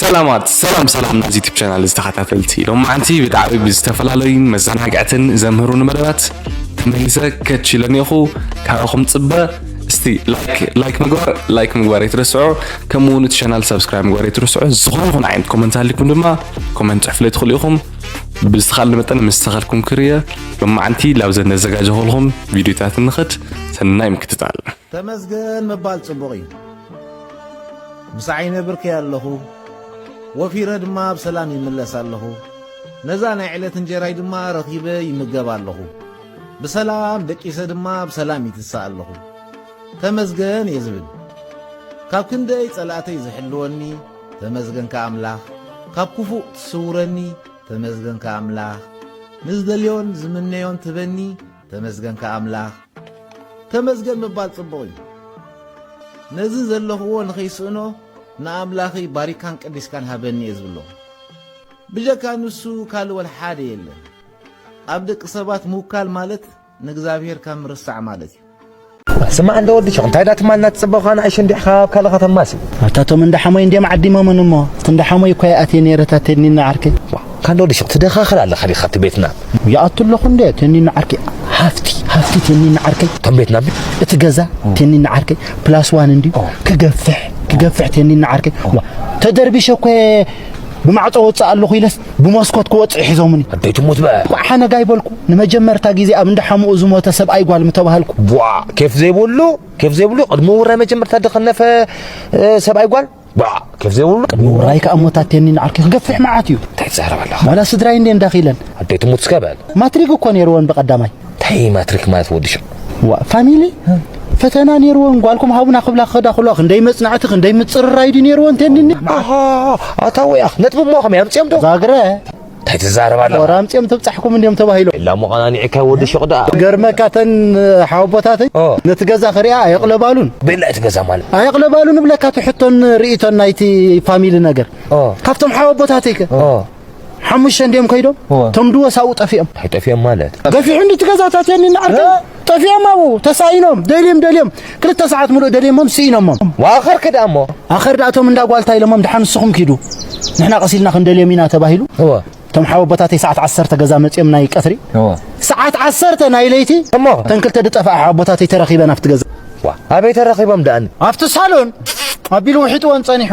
ሰላማት ሰላም ሰላም ናዚ ዩቲብ ቻናል ዝተኸታተልቲ ሎማዓንቲ ብጣዕሚ ብዝተፈላለዩን መዘናግዕትን ዘምህሩኒ መደባት ተመሊሰ ከች ኢለ እኒኹ ካብኹም ፅበ እስቲ ላይክ ምግባር ላይክ ምግባር የትረስዑ ከምኡ እውን እቲ ቻናል ሰብስክራይብ ምግባር የትረስዑ ዝኾነ ይኹን ዓይነት ኮመንት ሃሊኩም ድማ ኮመንት ፅሕፍለይ ትኽእሉ ኢኹም ብዝተኻለ መጠን ምስ ተኸልኩም ክርየ ሎማዓንቲ ላብዘን ነዘጋጀኹልኹም ቪድዮታት እንኸድ ሰናይ ምክትታል። ተመስገን ምባል ጽቡቕ እዩ። ምስ ዓይነ ብርከይ ኣለኹ፣ ወፊረ ድማ ብሰላም ይምለስ ኣለኹ። ነዛ ናይ ዕለት እንጀራይ ድማ ረኺበ ይምገብ ኣለኹ። ብሰላም ደቂሰ ድማ ብሰላም ይትሳእ ኣለኹ። ተመስገን እየ ዝብል ካብ ክንደይ ጸላእተይ ዝሕልወኒ ተመስገንካ ኣምላኽ ካብ ኩፉእ ትስውረኒ ተመስገንካ ኣምላኽ ንዝደልዮን ዝምነዮን ትበኒ ተመስገንካ ኣምላኽ ተመስገን ምባል ጽቡቕ እዩ ነዚ ዘለኽዎ ንኸይስእኖ ንኣምላኽይ ባሪካን ቀዲስካን ሃበኒ እየ ዝብሎ ብጀካ ንሱ ካልእ ወልሓደ የለን ኣብ ደቂ ሰባት ምውካል ማለት ንእግዝኣብሄር ካብ ምርሳዕ ማለት እዩ። ስማዕ እንዶ ወዲ ሸኽ እንታይ ዳትማልና ትጽበኻ ንኣሽቱ እንዲሕ ካብ ካልእ ከተማሲ ኣታ እቶም እንዳ ሓሞይ እንድዮም ዓዲሞመን እሞ እቲ እንዳ ሓሞይ እኳ ይኣትየ ነይረ እታ ቴኒኖ ዓርከይ ካን ዶ ወዲ ሸኽ ትደኻኽል ኣለኻ ዲኻ እቲ ቤትና ይኣቱ ኣለኹ እንደ ቴኒኖ ዓርከይ ሃፍቲ ሃፍቲ ቴኒኖ ዓርከይ እቶም ቤትና እቲ ገዛ ቴኒኖ ዓርከይ ፕላስ ዋን እንድዩ ክገፍሕ ክገፍሕ ቴኒኖ ዓርከይ ተደርቢሸ እኮ ብማዕጾ ወጽእ ኣለኹ ኢለስ ብመስኮት ክወጽዑ ሒዞምኒ ኣደይ ትሙት በ ኳዕ ሓነግ ኣይበልኩ ንመጀመርታ ግዜ ኣብ እንዳ ሓሙኡ ዝሞተ ሰብኣይ ጓል ምተባህልኩ ቧ ኬፍ ዘይብሉ ኬፍ ዘይብሉ ቅድሚ ውራይ መጀመርታ ድኸነፈ ሰብኣይ ጓል ቧ ኬፍ ዘይብሉ ቅድሚ ውራይ ከኣ ሞታቴኒ ንዓርኪ ክገፍሕ መዓት እዩ እንታይ ትዛረብ ኣለኻ ዋላ ስድራይ እንዴ እንዳኺለን ኣደይ ትሙት እስከ በል ማትሪግ እኮ ነይርወን ብቀዳማይ እንታይ እዪ ማትሪክ ማለት ወዲ ሸቕ ዋእ ፋሚሊ ፈተና ኔርወን ጓልኩም ሃቡና ክብላ ክኸዳ ከለዋ ክንደይ መጽናዕቲ ክንደይ ምጽርራይ ድዩ ኔርወን ተኒኒ ኣሃ ኣታ ወይ ኣኽ ነጥቢ እሞ ከመይ ኣምጺኦም ዶ ዛግረ እንታይ ትዛረብ ኣለኻ ወራ ኣምጺኦም ተብጻሕኩም እንዲዮም ተባሂሎም ኢላ እሞ ቐናኒዕካዮ ወዲ ሸቕ ደኣ ገርመካ ተን ሓወቦታተይ ኦ። ነቲ ገዛ ክሪኣ ኣየቕለባሉን ቤላ እቲ ገዛ ማለት ኣየቕለባሉን እብለካ እቲ ሕቶን ርእይቶን ናይቲ ፋሚሊ ነገር ኦ። ካብቶም ሓወቦታተይ ከ ኦ ሓሙሽተ እንዲዮም ከይዶም እቶም ድወ ሳብኡ ጠፊኦም እንታይ ጠፊኦም ማለት ገፊሑኒ እቲ ገዛታት የኒ ንዓርከ ጠፊኦም ኣብኡ ተሳኢኖም ደልዮም ደልዮም ክልተ ሰዓት ምሉእ ደልዮሞም ስኢኖሞም ኣኸር ክዳ እሞ ኣኸር ድኣ እቶም እንዳ ጓልታ ኢሎሞም ድሓን ንስኹም ኪዱ ንሕና ቀሲልና ክንደልዮም ኢና ተባሂሉ እቶም ሓወቦታተይ ሰዓት ዓሰርተ ገዛ መፅኦም ናይ ቀትሪ ሰዓት ዓሰርተ ናይ ለይቲ እሞ እተን ክልተ ድጠፍኣ ሓወቦታተይ ተረኺበን ኣብቲ ገዛ ኣበይ ተረኺቦም ድኣኒ ኣብቲ ሳሎን ኣቢሉ ውሒጥዎን ፀኒሑ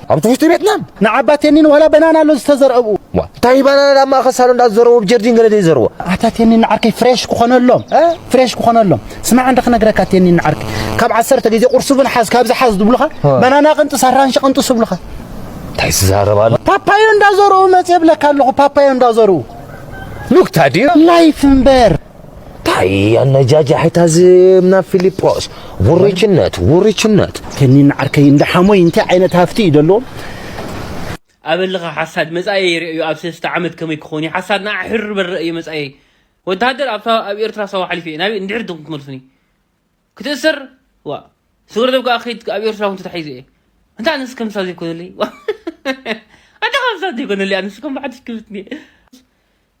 ኣብቲ ውሽጢ ቤትና ንዓባ ቴኒን ዋላ በናና ኣሎ ዝተዘርአ ኣብኡ ዋ እንታይ በናና ኣብ ማእኸል ሳሎን ዳ ዝዘረዎ ኣብ ጀርዲን ገለ ደይ ዘረዎ ኣታ ቴኒን ንዓርከይ ፍሬሽ ክኾነሎም ፍሬሽ ክኾነሎም ስማዕ እንደ ክነግረካ ቴኒን ንዓርከይ ካብ ዓሰርተ ግዜ ቁርሲ እውን ሓዝ ካብዚ ሓዝ ዝብሉኻ በናና ቅንጥስ ኣራንሺ ቅንጥስ ይብሉኻ እንታይ ዝዛረብ ኣሎ ፓፓዮ እንዳዘርኡ መፅ የብለካ ኣለኹ ፓፓዮ እንዳዘርኡ ኑክታ ድዩ ላይፍ እምበር ታይ ኣነጃጃሒታ ዝም ናብ ፊሊጶስ ውርችነት ውርችነት ከኒን ዓርከይ እንዳ ሓሞይ እንታይ ዓይነት ሃፍቲ እዩ ደለዎም ኣበልኻ ሓሳድ መጻኤ ይርእ እዩ ኣብ ሰለስተ ዓመት ከመይ ክኾን እዩ ሓሳድ ንዓ ሕር በል ረእ እዩ መጻኤ ወተሃደር ኣብታ ኣብ ኤርትራ ሳዋ ሓሊፈ እየ ናበይ እንድሕር ድኹም ትመልሱኒ ክትእሰር ዋ ስግረዶብ ከኣ ከይድ ኣብ ኤርትራ እውን ተታሒዘ እየ እንታይ ኣነስ ከምሳ ዘይኮነለይ ኣታ ከምሳ ዘይኮነለይ ኣነስ ከም ብሓድሽ ክብትኒ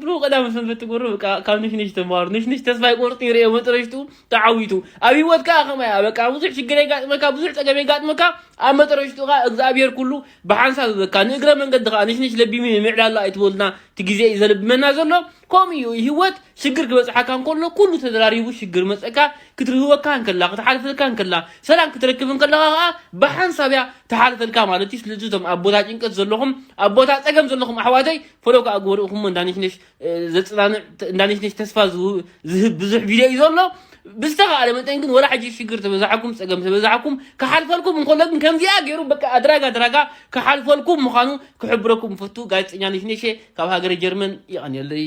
ብሩክ ቀዳመ ሰንበት ትገብሮ በቃ ካብ ንሽንሽ ተማሃሩ ንሽንሽ ተስፋ ይቆርጥ ይርኦ መጠረሽቱ ተዓዊቱ ኣብ ሂወትካ ከማይ በቃ ብዙሕ ሽግር የጋጥመካ ብዙሕ ፀገም የጋጥመካ ኣብ መጠረሽቱ ከዓ እግዚኣብሔር ኩሉ ብሓንሳብ ይበካ ንእግረ መንገዲ ከዓ ንሽንሽ ለቢሙ ምዕላላ ኣይትበሉና እቲ ግዜ እዩ ዘለብመና ዘሎ ከምኡ እዩ ሂወት ሽግር ክበጽሓካ እንከሎ ኩሉ ተደራሪቡ ሽግር መጸካ ክትርህወካ እንከላ ክትሓልፈልካ እንከላ ሰላም ክትረክብ እንከለኻ ከኣ ብሓንሳብ እያ ትሓልፈልካ ማለት እዩ ስለዚ እቶም ኣብ ቦታ ጭንቀት ዘለኹም ኣብ ቦታ ጸገም ዘለኹም ኣሕዋተይ ፈሎ ከኣ ግበርኡኹሞ እንዳነሽነሽ ዘጽናንዕ እንዳነሽነሽ ተስፋ ዝህብ ብዙሕ ቪድዮ እዩ ዘሎ ብዝተኻእለ መጠን ግን ወላ ሕጂ ሽግር ተበዛሓኩም ጸገም ተበዛሓኩም ክሓልፈልኩም እንከሎ ግን ከምዚኣ ገይሩ በቃ ኣድራጋ ኣድራጋ ክሓልፈልኩም ምዃኑ ክሕብረኩም ፈቱ ጋዜጠኛ ነሽነሸ ካብ ሃገረ ጀርመን ይቐንየለይ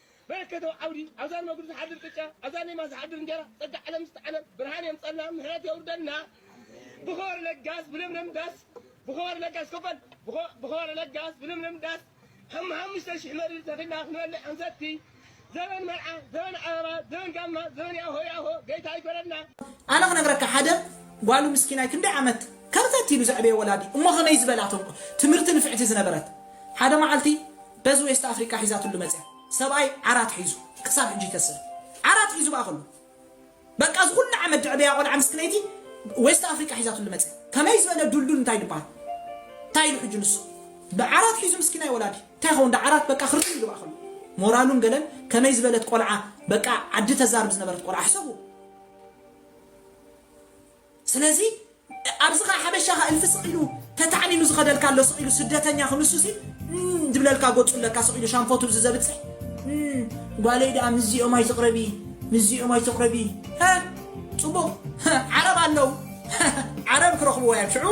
መለከታዊ ዓውዲ ኣብዛ ንመግዱ ዝሓድር ቅጫ ኣብዛ ንየማን ዝሓድር እንጀራ ጸጋ ዓለም ምስቲ ዓለም ብርሃን የምጸልና ምሕረት የውርደልና ብኸበረ ለጋስ ብለምለም ዳስ ብኸበረ ለጋስ ከፈል ብኸበረ ለጋስ ብለምለም ዳስ ሓም ሓሙሽተ ሽሕ መሪር ተኺልና ክንበልዕ ክንሰቲ ዘበን መርዓ ዘበን ኣበባ ዘበን ጋማ ዘበን ያሆ ያሆ ገይታ ይግበረልና ኣነ ክነግረካ ሓደ ጓሉ ምስኪናይ ክንደይ ዓመት ከርተት ኢሉ ዘዕበየ ወላዲ እሞ ከመይ ዝበላ ተንኮ ትምህርቲ ንፍዕቲ ዝነበረት ሓደ መዓልቲ በዚ ዌስት ኣፍሪቃ ሒዛትሉ መጽያ ሰብኣይ ዓራት ሒዙ ክሳብ ሕጂ ይከስር ዓራት ሒዙ ባኣ ከሉ በቃ እዚ ኩሉ ዓመት ድዕበያ ቆልዓ ምስክነይቲ ዌስት ኣፍሪቃ ሒዛትሉ መጽያ ከመይ ዝበለ ዱልዱል እንታይ ድባሃል እንታይ ኢሉ ሕጂ ንሱ ብዓራት ሒዙ ምስኪናይ ወላዲ እንታይ ይኸውን ዳ ዓራት በቃ ክርትም ኢሉ ባኣ ከሉ ሞራሉን ገለን ከመይ ዝበለት ቆልዓ በቃ ዓዲ ተዛርብ ዝነበረት ቆልዓ ሕሰቡ ስለዚ ኣብዚ ከኣ ሓበሻ ከኣ እልፊ ስቅ ኢሉ ተታዕኒኑ ዝኸደልካ ኣሎ ስቅ ኢሉ ስደተኛ ክንሱሲ እም ዝብለልካ ጎጹ ለካ ስቅ ኢሉ ሻንፎቱ እዚ ዘብጽሕ እም ጓለይ ደኣ ምስዚኦም ኣይትቅረቢ ምስዚኦም ኣይትቅረቢ ሀ ጽቡቅ ሀ ዓረብ ኣለው ሀ ዓረብ ክረኽብዎ እዮም ሽዑ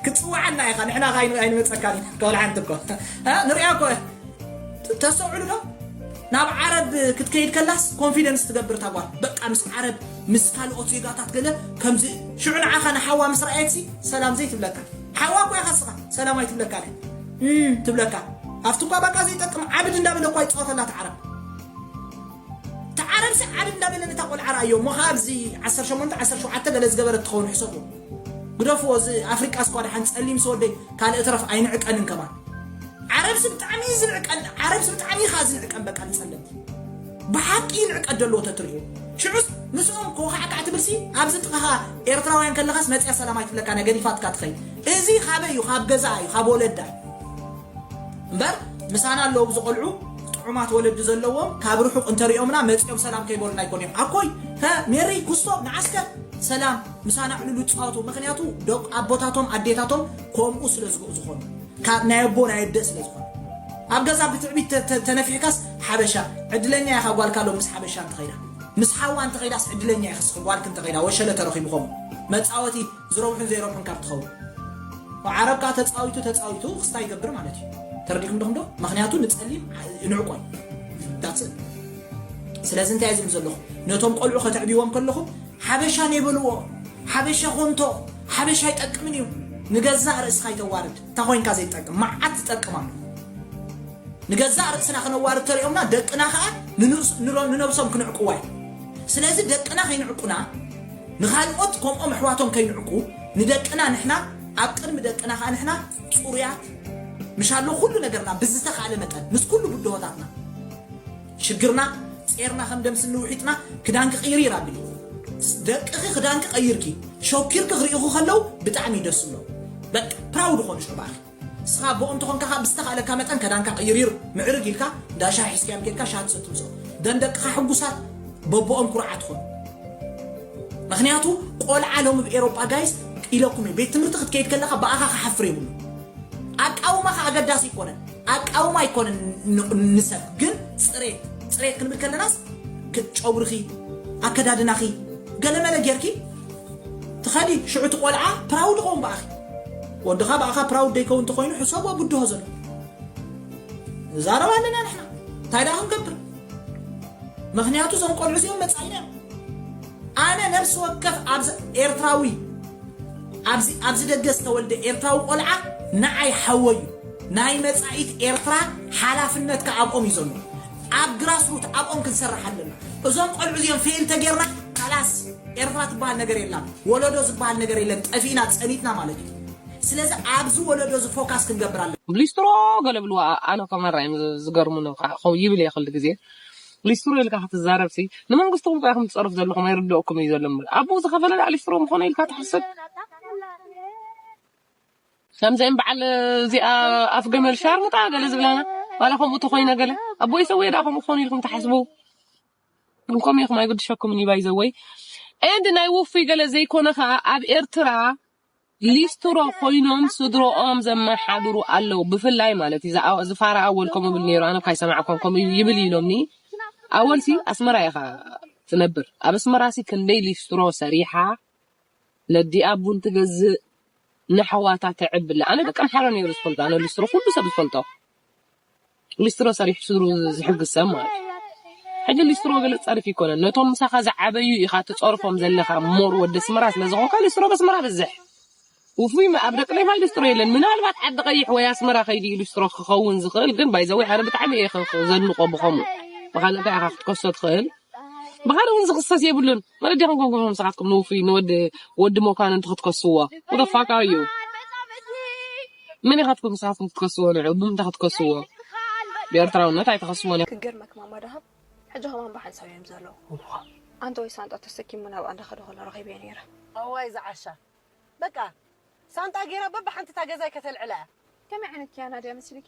ክትጽውዓና ኢኻ ንሕና ከኣ ኣይን- ኣይንመጸካን ኢና ከወል ሓንቲ እኮ ሀ ንሪኣ እኮ ተሰውዕሉ ዶ ናብ ዓረብ ክትከይድ ከላስ ኮንፊደንስ ትገብር ታጓል በቃ ምስ ዓረብ ምስ ካልኦት ዜጋታት ገለ ከምዚ እዩ። ሽዑ ንዓኻ ንሓዋ ምስ ረኣየትሲ ሰላም ዘይትብለካ? ሓዋ እኳ ኢኻ እስኻ፣ ሰላም ኣይትብለካን እያ። እም ትብለካ። ኣብቲ እኳ በቃ ዘይጠቅም ዓብድ እንዳበለ እኳ ይጻወተላ እቲ ዓረብ። እቲ ዓረብሲ ዓብድ እንዳበለ ነታ ቆልዓ ረኣዮ እሞ ከኣ ኣብዚ ዓሰርተ ሸሞንተ ዓሰርተ ሸውዓተ ገለ ዝገበረት ትኸውን ሕሰብዎ። ግደፍዎ እዚ ኣፍሪቃስ እኳ ደሓን ጸሊምሲ ወደይ ካልእ ትረፍ ኣይንዕቀንን ከማን። ዓረብሲ ብጣዕሚ እዩ ዝንዕቀን፣ ዓረብሲ ብጣዕሚ እዩ ከኣ ዝንዕቀን በቃ ንጸለምቲ። ብሓቂ ይንዕቀ ደልዎ ተትርእዩ ሽዑስ ምስኦም ኮኻዕካዕ ትብልሲ ኣብዚ ጥቃኻ ኤርትራውያን ከለኻስ መጽያ ሰላም ኣይትብለካ እያ ገዲፋትካ ትኸይድ እዚ ካበይ እዩ ካብ ገዛኣ እዩ ካብ ወለዳ እዩ እምበር ምሳና ኣለዉ ኣብዚ ቆልዑ ጥዑማት ወለዲ ዘለዎም ካብ ርሑቅ እንተሪኦምና መጽኦም ሰላም ከይበሉና ይኮኑ እዮም ኣኮይ ከ ሜሪ ኩስቶ ንዓስከ ሰላም ምሳና ዕልሉ ይጻወቱ ምክንያቱ ደቁ ኣቦታቶም ኣዴታቶም ከምኡ ስለ ዝኮኑ ካብ ናይ ኣቦ ናይ ኣደ ስለ ዝኮኑ ኣብ ገዛ ብትዕቢት ተነፊሕካስ ሓበሻ ዕድለኛ ኢኻ ጓልካ ሎምስ ሓበሻ እንተኸይዳ ምስ ሓዋ እንተኸይዳስ ዕድለኛ ኢኺ ስኺ ጓልኪ እንተኸይዳ ወሸለ ተረኺቡ ከምኡ መጻወቲ ዝረብሑን ዘይረብሑን ካብ ትኸውን ብ ዓረብ ከኣ ተጻዊቱ ተጻዊቱ ክስታ ይገብር ማለት እዩ ተረዲኩም ዲኹም ዶ ምኽንያቱ ንጸሊም ንዕቆ that's it ስለዚ እንታይ ዝብል ዘለኹ ነቶም ቆልዑ ከተዕብይዎም ከለኹም ሓበሻ ነይበልዎ ሓበሻ ኮንቶ ሓበሻ ይጠቅምን እዩ ንገዛእ ርእስኻ ይተዋርድ እንታ ኮይንካ ዘይትጠቅም መዓት ዝጠቅም ኣሎ ንገዛእ ርእስና ክነዋርድ ተሪኦምና ደቅና ከኣ ንነብሶም ክንዕቅዋ እዩ ስለዚ ደቅና ከይንዕቁና ንኻልኦት ከምኦም ኣሕዋቶም ከይንዕቁ ንደቅና ንሕና ኣብ ቅድሚ ደቅና ከኣ ንሕና ጽሩያት ምሻሎ ኩሉ ነገርና ብዝተኻእለ መጠን ምስ ኩሉ ብድሆታትና ሽግርና ጼርና ከም ደም ስኒ ውሒጥና ክዳንኪ ቅይሪ ኢላ ቢሉ ደቅኺ ክዳንኪ ቀይርኪ ሾኪርኪ ክሪኡኺ ከለው ብጣዕሚ ደስ ዝብሎም በቃ ፕራውድ ኾኑ ሽዑ ብኣኺ ንስኻ ኣቦኦም እንተኾንካ ከኣ ብዝተኻእለካ መጠን ከዳንካ ቅይሪር ምዕርግ ኢልካ እንዳ ሻሂ ሒዝካዮም ኬድካ ሻሂ ትሰቲ ምጽኦ ደም ደቅኻ ሕጉሳት በቦኦም ኩርዓት ኾኑ ምክንያቱ ቆልዓ ሎሚ ብ ኤሮጳ ጋይስ ኢለኩም እየ ቤት ትምህርቲ ክትከይድ ከለኻ ብኣኻ ክሓፍር የብሉ ኣቃውማኻ ኣገዳሲ ኣይኮነን ኣቃውማ ኣይኮነን ንሰብ ግን ጽሬት ጽሬት ክንብል ከለናስ ጨጉርኺ ኣከዳድናኺ ገለመለ ጌርኪ ትኸዲ ሽዑ እቲ ቆልዓ ፕራውድ ኾውን ብኣኺ ወድኻ ብኣኻ ፕራውድ ደይከውን እንተኾይኑ ሕሰቦ ብድሆ ዘሎ ንዛረብ ኣለና ንሕና እንታይ ደኣ ክንገብር ምክንያቱ እዞም ቆልዑ እዚኦም መጻኢና እዮም ኣነ ነፍሲ ወከፍ ኣብዚ ኤርትራዊ ኣብዚ ኣብዚ ደገ ዝተወልደ ኤርትራዊ ቆልዓ ንዓይ ሓወይ እዩ። ናይ መጻኢት ኤርትራ ሓላፍነት ከኣ ኣብኦም እዩ ዘሎ። ኣብ ግራስ ሩት ኣብኦም ክንሰርሕ ኣለና። እዞም ቆልዑ እዚኦም ፌል ተጌርና ካላስ ኤርትራ ትበሃል ነገር የላን። ወለዶ ዝበሃል ነገር የለን። ጠፊእና ጸኒትና ማለት እዩ። ስለዚ ኣብዚ ወለዶ እዚ ፎካስ ክንገብር ኣለና። ሊስትሮ ገለ ብልዋ ኣነ ከማራ እዮም ዝገርሙኒ ይብል እየ ክሉ ግዜ ሊስትሮ ኢልካ ክትዛረብሲ ንመንግስትኩም ጥራይ ከም ትጸርፉ ዘለኹም ኣይርድኦኩም እዩ ዘሎ እምበር ኣቦኡ ዝኸፈለ ደኣ ሊስትሮ ምኾነ ኢልካ ትሓስብ ከምዚኦም በዓል እዚኣ ኣፍ ገመል ሻርሙጣ ገለ ዝብላና ዋላ ከምኡ ተኮይነ ገለ ኣቦይ ሰውየ ዳ ከምኡ ክኾኑ ኢልኩም ትሓስቡ ግን ከምኡ ኢኹም ኣይግድሸኩምን እዩ ባይዘወይ ኤንድ ናይ ውፉይ ገለ ዘይኮነ ከዓ ኣብ ኤርትራ ሊስትሮ ኮይኖም ስድሮኦም ዘመሓድሩ ኣለው ብፍላይ ማለት እዩ እዛ እዚ ፋራ ኣወል ከምኡ ይብል ነይሩ ኣነ እኳ ኣይሰማዕኳን ከምኡ ይብል ኢሎምኒ ኣወል ሲ ኣስመራ ኢኻ ትነብር ኣብ ኣስመራ ሲ ክንደይ ሊስትሮ ሰሪሓ ነዲኣ ቡን ትገዝእ ንኣሕዋታ ተዕብለ ኣነ ደቂ ኣምሓራ ነይሩ ዝፈልጦ ኣነ ሊስትሮ ኩሉ ሰብ ዝፈልጦ ሊስትሮ ሰሪሑ ስድሩ ዝሕግዝ ሰብ ማለት እዩ ሕጂ ሊስትሮ ገለ ጸርፊ ይኮነን ነቶም ምሳኻ ዝዓበዩ ኢኻ ትጸርፎም ዘለኻ ሞር ወዲ ኣስመራ ስለ ዝኾንካ ሊስትሮ በስመራ ብዝሕ ውፉይ ኣብ ደቂ ሌፋይ ሊስትሮ የለን ምናልባት ዓዲ ቀይሕ ወይ ኣስመራ ከይዲ እዩ ሊስትሮ ክኸውን ዝኽእል ግን ባይዘወይ ኣነ ብጣዕሚ እየ ዘድንቆ ብኸምኡ ብኻል እንታይ ኢኻ ክትከሶ ትኽእል ብኻል እውን ዝኽሰስ የብሉን መለዲ ክንጎንጎም ንስኻትኩም ንውፉይ ንወዲ ወዲ መኳንንቲ ክትከስዎ ወደፋካ እዩ መን ኢካትኩም ንስካትኩም ክትከስዎ ንዕኡ ብምንታይ ክትከስዎ ብኤርትራውነት ኣይትከስዎን ኢኩም። ክገርመኪ ማማ ደሃብ ሕጂ ከማን ብሓንሳብ እዮም ዘለዉ ኣንተወይ ሳንጣ ተሰኪሙ ናብኣ እንዳከደ ከሎ ረኪበዮ ነይረ። ኣዋይ እዛ ዓሻ በቃ ሳንጣ ጌራ በብሓንቲ እታ ገዛይ ከተልዕላ እያ። ከመይ ዓይነት ኪያና ድያ መሲልኪ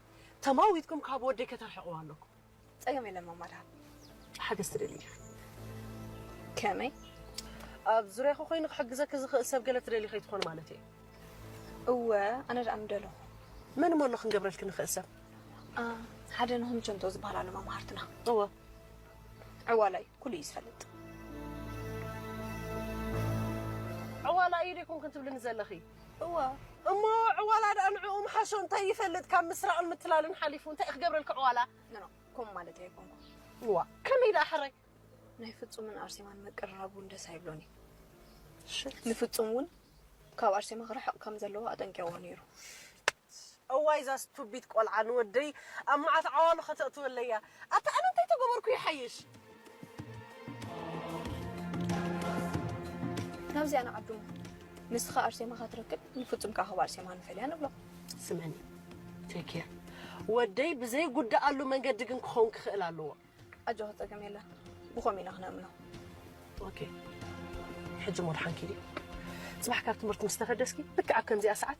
ተማዊትኩም ካብ ወደይ ከተርሕቅዋ ኣለኩም። ጸገም የለን ማማ ደሃብ። ሓገዝ ትደሊ ዲኺ? ከመይ? ኣብ ዙርያኺ ኮይኑ ክሕግዘኪ ዝኽእል ሰብ ገለ ትደሊ ከይትኾኒ ማለት እየ። እወ ኣነ ደኣ ምደለኹ። መን እሞ ኣሎ ክንገብረልኪ ንኽእል ሰብ? ሓደ ንኹም ቸንቶ ዝበሃል ኣሎ መማህርትና። እወ ዕዋላ እዩ፣ ኩሉ እዩ ዝፈልጥ። ዕዋላ እዩ ደይኮንክን ትብልኒ ዘለኺ? እወ እሞ ዕዋላ ድኣ ንዕኡ ምሓሾ እንታይ ይፈልጥ ካብ ምስራቕን ምትላልን ሓሊፉ እንታይ እዩ ክገብረልኪ ዕዋላ ኖኖ ከምኡ ማለተይ ኣይኮንኩን እዋ ከመይ ድኣ ሕራይ ናይ ፍጹምን ኣርሴማን ምቅርራብ እውን ደስ ኣይብሎን እዩ ንፍጹም እውን ካብ ኣርሴማ ክርሕቕ ከም ዘለዎ ኣጠንቂቕዎ ነይሩ ሞት። እዋይ እዛ ስቱቢት ቆልዓ ንወደይ ኣብ መዓት ዓዋሉ ከተእትወለይ እያ ኣታ ኣነ እንታይ ተገበርኩ ይሓይሽ። ናብዚኣ ንዓዱና ንስኻ ኣርሴማ ካትረክብ ንፍጹም ከኣ ካብ ኣርሴማ ንፈልያ ንብሎ። ስመኒ ቴኬር ወደይ ብዘይ ጉዳኣሉ መንገዲ ግን ክኸውን ክኽእል ኣለዎ። ኣጆኻ ጸገም የለን ብኸምኡ ኢና ክነእምኖ። ኦኬ ሕጂ ሞድሓንኪ ድዩ ጽባሕ ካብ ትምህርቲ ምስ ተፈደስኪ ልክዕ ኣብ ከምዚኣ ሰዓት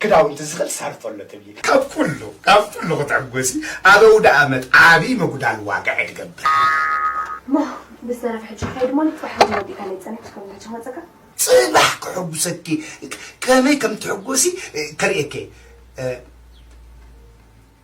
ክዳውንቲ ዝኽል ሳርቶ ኣሎ ትብሊ። ካብ ኩሉ ካብ ኩሉ ክትዕጎሲ ኣብ ኣውደኣመት ዓቢ ምጉዳል ዋጋ እየ ትገብር። እሞ ብዝተረፈ ሕጂ ክኸይድ እሞ ንጽባሕ እውን ወዲእካ ለይ ጸኒሕኩ ከም ሕጂ ክመጸካ። ጽባሕ ከሕጉሰኪ ከመይ ከም ትሕጎሲ ከርእየኪ እየ።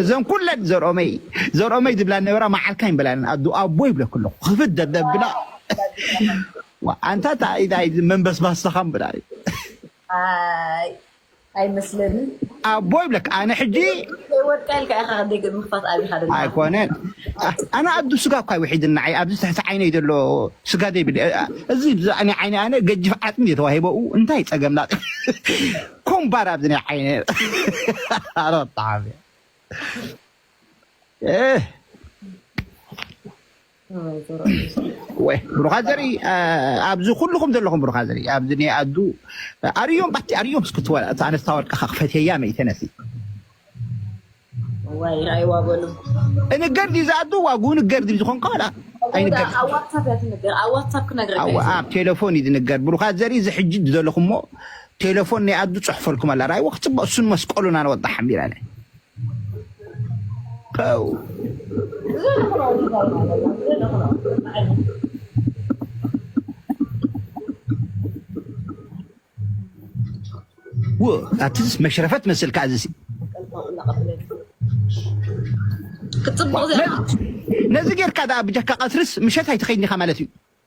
እዘን ኩለን ዘርኦመይ ዘርኦመይ ዝብላ ነበራ መዓልካ ይበላለን ኣዱ ኣቦ ይብለክ ኣለኩ ክፍት ደደብ ብላ ኣንታ መንበስባስኻ ብላ ኣይመስለንን። ኣቦ ይብለካ ኣነ ሕጂ ከይወድቃ ኢልካ ኢኻ ክንደይ ምኽፋት ኣቢኻ ደለኻ። ኣይኮነን ኣነ ኣዱ ስጋ እኳ ውሒድን ንዓይ ኣብዚ ትሕቲ ዓይነይ ዘሎ ስጋ ዘይብል እዚ ብዛዕባ ናይ ዓይነ ኣነ ገጅፍ ዓጽሚ እዩ ተዋሂበኡ እንታይ ጸገም ላጥ ኮምባር ኣብዚ ናይ ዓይነ ኣረ ጣዕሚ ወይ ብሩኻት ዘርኢ ኣብዚ ኩልኹም ዘለኹም ብሩኻት ዘርኢ ኣብዚ ናይ ኣዱ ኣርዮም ባቲ ኣርዮም ስክትወል እቲ ኣነስታ ወርቅኻ ክፈትየያ መይተነሲ ዋይ ራእይዋ በሉ እንገር ዲዛ ኣዱ ዋጉ ንገር ዲብ ዝኾን ከላ ኣይንገር ኣብ ዋትሳፕ እያ ትንገር ኣብ ዋትሳፕ ክነግረካ እዩ ኣብ ቴሌፎን እዩ ዝንገር ብሩኻት ዘርኢ እዚ ሕጂ ዘለኹሞ ቴሌፎን ናይ ኣዱ ፅሑፈልኩም ኣላ ራእይዎ ክፅበቅ እሱን መስቀሉን ኣነ ወጣ ሓሚራ ፐው ኣትስ መሽረፈት መስል ከዓ ዝሲ ነዚ ጌርካ ድኣ ብጀካ ቀትርስ ምሸት ኣይትኸይድኒኻ ማለት እዩ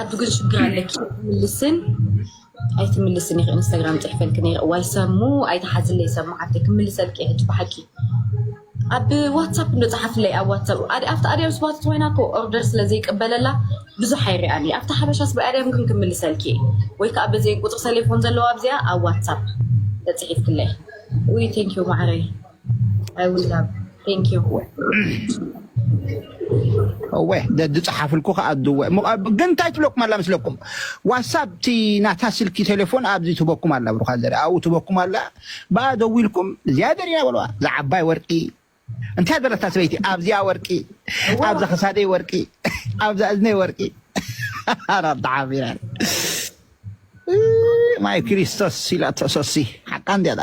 ኣዱ ግን ሽግር ኣለኪ ትምልስን ኣይትምልስን ኢኺ ኢንስታግራም ፅሕፈልኪ ነይረ እዋይ ሰሙ ኣይትሓዝለይ ሰሙ ሓፍተይ ክምልሰልኪ እየ ሕጂ ብሓቂ ኣብ ዋትሳፕ እንዶ ፀሓፍለይ ኣብ ዋትሳፕ ኣብቲ ኣድያም ስባት ኮይና እኮ ኦርደር ስለ ዘይቅበለላ ብዙሕ ኣይርኣን እየ ኣብቲ ሓበሻ ስባ ኣድያም ግን ክምልሰልኪ እየ ወይ ከዓ በዚ ቁፅሪ ሰሌፎን ዘለዋ ኣብዚኣ ኣብ ዋትሳፕ ተፅሒፍክለይ ውይ ቴንኪዩ ማዕረይ እወ ዝፀሓፍልኩ ከዓ ድወ ግን እንታይ ትብለኩም ኣላ ምስለኩም ዋትሳፕ እቲ ናታ ስልኪ ቴሌፎን ኣብዚ ትበኩም ኣላ ብሩካ ዘሪ ኣብኡ ትበኩም ኣላ ብኣ ደዊልኩም እዚኣ ደሪና በለዋ እዛ ዓባይ ወርቂ እንታይ ዘለታ ሰበይቲ ኣብዚኣ ወርቂ ኣብዛ ክሳደይ ወርቂ ኣብዛ እዝነይ ወርቂ ኣራብተሓቢራ ማይ ክርስቶስ ኢላ ተሰሲ ሓቃ እንዲያዳ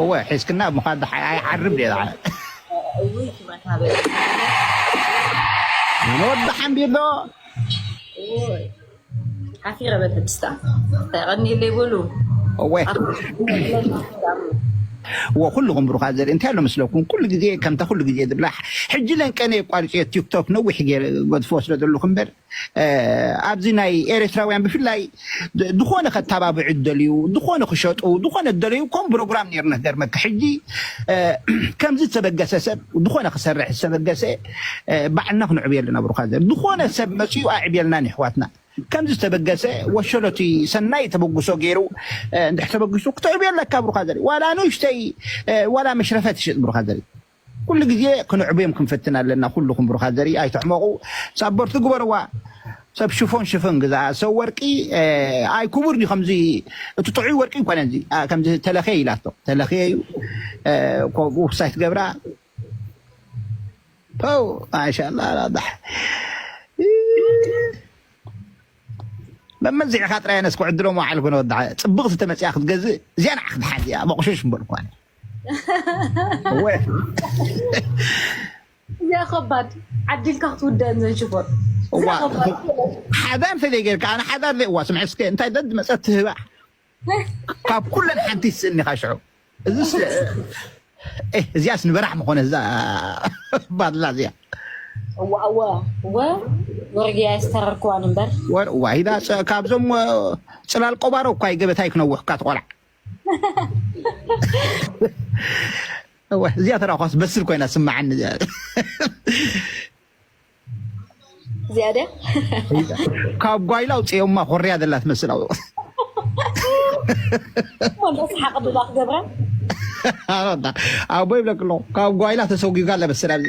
እወ ሒዝክና ኣብ ምዃድ ድሓ ኣይዓርብ ድየ ድሓ እውይ ክመታ በለ ንወዲ ሓምቢሎ እውይ ሓፊረ በለ ድስታ ቀኒለይ በሉ እወ እወ ኩልኹም ብሩኻት ዘርኢ እንታይ ኣሎ ምስለኩም ኩሉ ግዜ ከምታ ኩሉ ግዜ ዝብላ ሕጂ ለንቀነ የቋርፅዮ ቲክቶክ ነዊሕ ገይረ ገድፎ ስለ ዘለኹ እምበር ኣብዚ ናይ ኤሬትራውያን ብፍላይ ድኾነ ከታባብዑ ዝደልዩ ድኾነ ክሸጡ ድኾነ ዝደለዩ ኮም ብሮግራም ነይርና ክገርመካ ሕጂ ከምዚ ዝተበገሰ ሰብ ድኾነ ክሰርሕ ዝተበገሰ ባዕልና ክንዕብየሉ ነብሩካ ዘር ድኾነ ሰብ መጽኡ ኣዕብየልና ንሕዋትና ከምዚ ዝተበገሰ ወሸሎቲ ሰናይ ተበግሶ ገይሩ እንድሕተበግሱ ክትዕብየለካ ብሩካ ዘር ዋላ ንእሽተይ ዋላ መሽረፈት ይሽጥ ብሩካ ዘር ኩሉ ግዜ ክንዕብዮም ክንፍትን ኣለና ኩሉኩም ብሩካት ዘርኢ ኣይትሕመቁ ሳቦርቲ ግበርዋ ሰብ ሽፎን ሽፍን ግዛኣ ሰብ ወርቂ ኣይ ኩቡር ድዩ ከምዚ እቲ ጥዑይ ወርቂ ኣይኮነን እዚ ከምዚ ተለክየ ኢላቶ ተለክየ እዩ ኮብኡ ክሳይ ትገብራ ፐው ማሻላ ራዳሕ መመዝዕኻ ጥራይ ኣነስ ክዕድሎም ወዓልኩ ነወድዓ ጽብቕቲ ተመጽያ ክትገዝእ እዚኣ ንዓኽ ድሓን እዚኣ መቑሸሽ እምበር እኳ እዚኣ ከባድ ዓዲልካ ክትውደን ዘንሽቦር ሓዳር ተዘይ ጌርካ ኣነ ሓዳር ዘይ እዋ ስምዐ እስከ እንታይ ደድ መፀት ትህባ ካብ ኩለን ሓንቲ ይስእኒ ካ ሽዑ እዚስ እዚኣስ ንበራሕ ምኾነ እዛ ባድላ እዚኣ እዋ እዋ እወ ወርግያ የስተረርክዋን እምበር ወር እዋ ሂዳ ካብዞም ፅላል ቆባሮ እኳ ገበታይ ክነውሕ እኳ ትቆልዓ እወ እዚኣ ተራ ኳስ በስል ኮይና ስማዓኒ እዚኣ እዚኣ ድያ ካብ ጓይላ ውፅኦማ ኮርያ ዘላ ትመስል ኣብ ወንዶ ሰሓቅ ብባ ክገብራ ኣቦ ይብለክ ኣለኹ ካብ ጓይላ ተሰጒጋ ለበስል ኣብዚ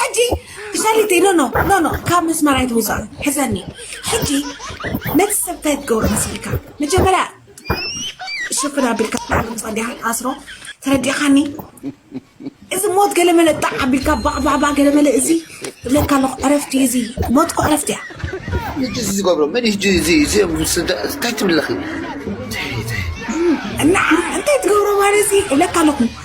ሕጂ ሸሪቲ ኖ ኖ ኖ ኖ ካብ መስመር ኣይትውፃእ ሕዘኒ ሕጂ ነቲ ሰብ እንታይ ትገብሮ መሲልካ መጀመርያ ሽፍን ኣቢልካ ላዕሊ ምፃእ ዲኻ ኣስሮ ተረዲኻኒ እዚ ሞት ገለመለ ጣዕ ኣቢልካ ባዕባዕባዕ ገለመለ እዚ እብለካ ኣለኹ ዕረፍቲ እዩ እዚ ሞት እኮ ዕረፍቲ እያ ሕጂ እዚ ዝገብሮ መን እዩ ሕጂ እዚ እዚ እንታይ ትብለኺ ንዓ እንታይ ትገብሮ ማለት እዚ እብለካ ኣለኹ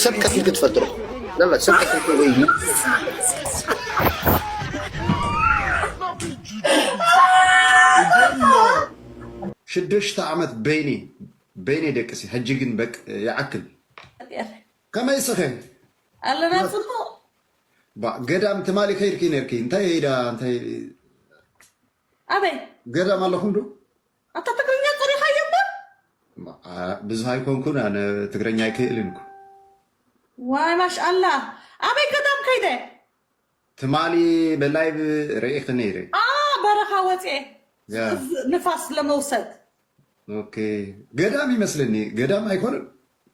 ሰብ ቀቲልክ ትፈልጥ ዶ ላላ ሰብ ቀቲልክ ወይ ሽዱሽተ ዓመት በይኒ በይኒ ደቅሲ ሕጂ ግን በቅ ይዓክል ከመይ ስኸ ኣለና ጽቡቕ ባ ገዳም ትማሊ ከይድኪ ነርኪ እንታይ ሄዳ እንታይ ኣበይ ገዳም ኣለኹም ዶ ኣታ ትግርኛ ጸሪኻዮ እምበር። ብዙህ ኣይኮንኩን ኣነ ትግርኛ ኣይክእልን እኮ። ዋይ ማሽኣላህ ኣበይ ገዳም ከይደ። ትማሊ ብላይቭ ሪኢኺ ነይረ። ኣኣ በረኻ ወጽየ ንፋስ ለመውሰድ። ኦኬ ገዳም ይመስለኒ ገዳም ኣይኮነን።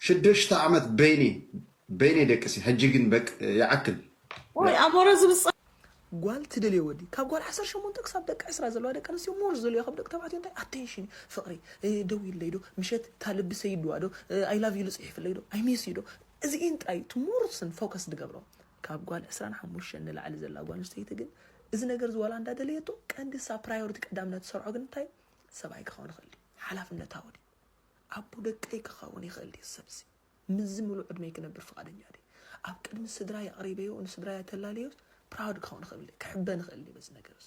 ሽዱሽተ ዓመት በይነይ በይነይ ደቅሰ ሕጂ ግን በቅ ይዓክል። ወይ ኣሞረ ዝብጻ። ጓል ትደልዮ ወዲ ካብ ጓል ዓሰርተ ሸሞንተ ክሳብ ደቂ ዕስራ ዘለዋ ደቂ ኣንስትዮ ሞር ዝደልዮ ካብ ደቂ ተባዕትዮ እንታይ ኣቴንሽን እዩ ፍቅሪ ደዊልለይ ዶ ምሸት እታ ልቢ ሰይድዋ ዶ ኣይ ላቭ ዩ ልጽሒፍለይ ዶ ኣይ ሚስ ዩ ዶ እዚኢን ጥራይ እቲ ሞርስን ፎከስ ድገብሮ ካብ ጓል ዕስራን ሓሙሽተን ንላዕሊ ዘላ ጓል ኣንስተይቲ ግን እዚ ነገር እዚ ዋላ እንዳ ደለየቶ ቀንዲ እሳ ፕራዮሪቲ ቀዳምነት ትሰርዖ ግን እንታይ ሰብኣይ ክኸውን ይኽእል ሓላፍነታዊ ድዩ ኣቦ ደቀይ ክኸውን ይኽእል ድየ ሰብ'ዚ? ምስዚ ምሉእ ዕድመይ ክነብር ፍቓደኛ ድየ? ኣብ ቅድሚ ስድራይ ኣቕሪበዮ ንስድራይ ኣተላልየዮስ proud ክኸውን እኽእል ድየ? ክሕበን እኽእል ድየ በዚ ነገር'ዚ?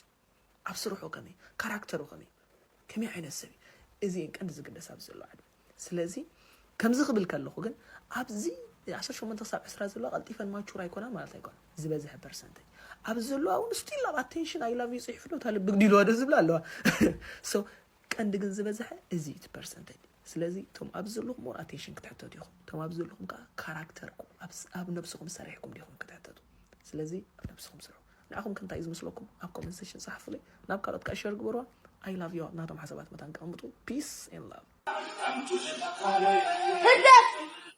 ኣብ ስርሑ ከመይ እዩ? ካራክተሩ ከመይ እዩ? ከመይ ዓይነት ሰብ እዩ? እዚ እየን ቀንዲ ዝግደሳ ኣብዚ ዘሎ ዕድመ። ስለዚ ከምዚ ክብል ከለኹ ግን ኣብዚ ዓሰርተ ሸሞንተ ክሳብ ዕስራ ዘለዋ ቀልጢፈን ማቹር ኣይኮናን ማለት ኣይኮነን። ዝበዝሐ ፐርሰንተጅ ኣብዚ ዘለዋ እውን ስቲል ኣብ ኣቴንሽን ኣይ ላቭ ዩ ጽሒፉ ዶ እታ ልቢ ግዲልዋ ዶ ዝብላ ኣለዋ። ሶ ቀንዲ ግን ዝበዘሐ እዚ እዩ እቲ ፐርሰንተጅ ስለዚ እቶም ኣብዚ ዘለኹም ኦራቴሽን ክትሕተቱ ኢኹም እቶም ኣብዚ ዘለኹም ከዓ ካራክተርኩም ኣብ ነብስኹም ሰሪሕኩም ዲኹም ክትሕተቱ ስለዚ ኣብ ነብስኹም ስርሑ ንዓኹም ከንታይ እዩ ዝመስለኩም ኣብ ኮመንት ሴሽን ጸሓፉለይ ናብ ካልኦት ከዓ ሸር ግበርዋ ኣይ ላቭ ዩ ናቶም ሓሳባት መታን ከቐምጡ ፒስ ኤን ላቭ ህግደፍ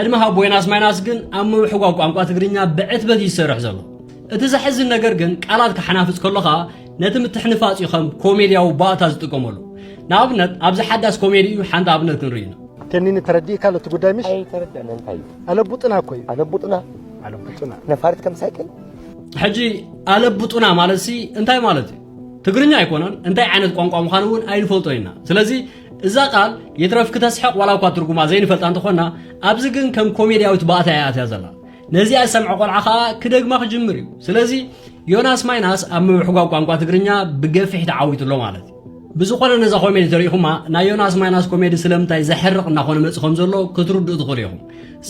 ዕድመ ሃቦ ዮናስ ማይናስ ግን ኣብ ምውሕጓ ቋንቋ ትግርኛ ብዕትበት ይሰርሕ ዘሎ እቲ ዘሕዝን ነገር ግን ቃላት ክሓናፍፅ ከሎኻ ነቲ ምትሕንፋፅ እዩ ከም ኮሜድያዊ ባእታ ዝጥቀመሉ ንኣብነት ኣብዚ ሓዳስ ኮሜዲ እዩ ሓንቲ ኣብነት ክንርኢ ኢና ተኒኒ ተረዲእካ ኣሎ እቲ ጉዳይ ምሽ ኣይተረዳእና እንታይ እዩ ኣለቡጥና እኮ እዩ ኣለቡጥና ኣለቡጥና ነፋሪት ከም ሳይክል ሕጂ ኣለቡጡና ማለት ሲ እንታይ ማለት እዩ ትግርኛ ኣይኮነን እንታይ ዓይነት ቋንቋ ምዃኑ እውን ኣይንፈልጦ ኢና ስለዚ እዛ ቃል ይትረፍ ክተስሕቕ ዋላ እኳ ትርጉማ ዘይንፈልጣ እንተኾና ኣብዚ ግን ከም ኮሜድያዊት ባእታ እያ ኣትያ ዘላ ነዚኣ ዝሰምዐ ቆልዓ ከዓ ክደግማ ክጅምር እዩ ስለዚ ዮናስ ማይናስ ኣብ ምብሕጓግ ቋንቋ ትግርኛ ብገፊሕ ተዓዊቱ ኣሎ ማለት እዩ ብዝኾነ ነዛ ኮሜዲ ተሪኢኹማ ናይ ዮናስ ማይናስ ኮሜዲ ስለምንታይ ዘሕርቕ እናኾነ መፅእ ከም ዘሎ ክትርድኡ ትኽእሉ ኢኹም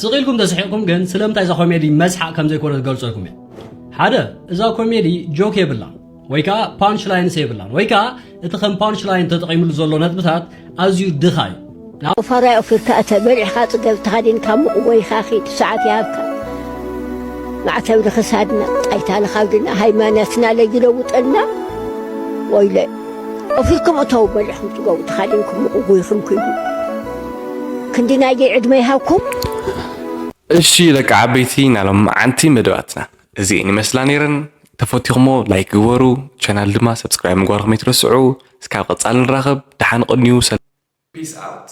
ስቕ ኢልኩም ተስሒቕኩም ግን ስለምንታይ እዛ ኮሜዲ መስሓቕ ከም ዘይኮነ ዝገልፀልኩም እየ ሓደ እዛ ኮሜዲ ጆክ የብላን ወይ ከዓ ፓንች ላይንስ የብላን ወይ ከዓ እቲ ከም ፓንች ላይን ተጠቒምሉ ዘሎ ነጥብታት ኣዝዩ ድኻ እዩ ቁፋራይ ኣውፊርካ እተ በሊዕኻ ጽገብ ተኻዲንካ ሙቕ ወይኻ ኺድ ሰዓት ይሃብካ ማዕተብ ንኽሳድና ጣይታ ንኻብድና ሃይማኖትና ለይለውጠልና ወይለ ኣውፊርኩም እተው በሊዕኹም ጽገቡ ተኻዲንኩም ሙቕ ወይኹም ኪዱ ክንዲ ናይዘይ ዕድመ ይሃብኩም እሺ ደቂ ዓበይቲ ናይ ሎምዓንቲ መደባትና እዚኤን ይመስላ ነይረን ተፈቲኹሞ ላይክ ግበሩ ቻናል ድማ ሰብስክራይብ ምግባርኩም ኣይትረስዑ እስካብ ቀፃሊ ንራኸብ ደሓን ቐንዩ ሰላም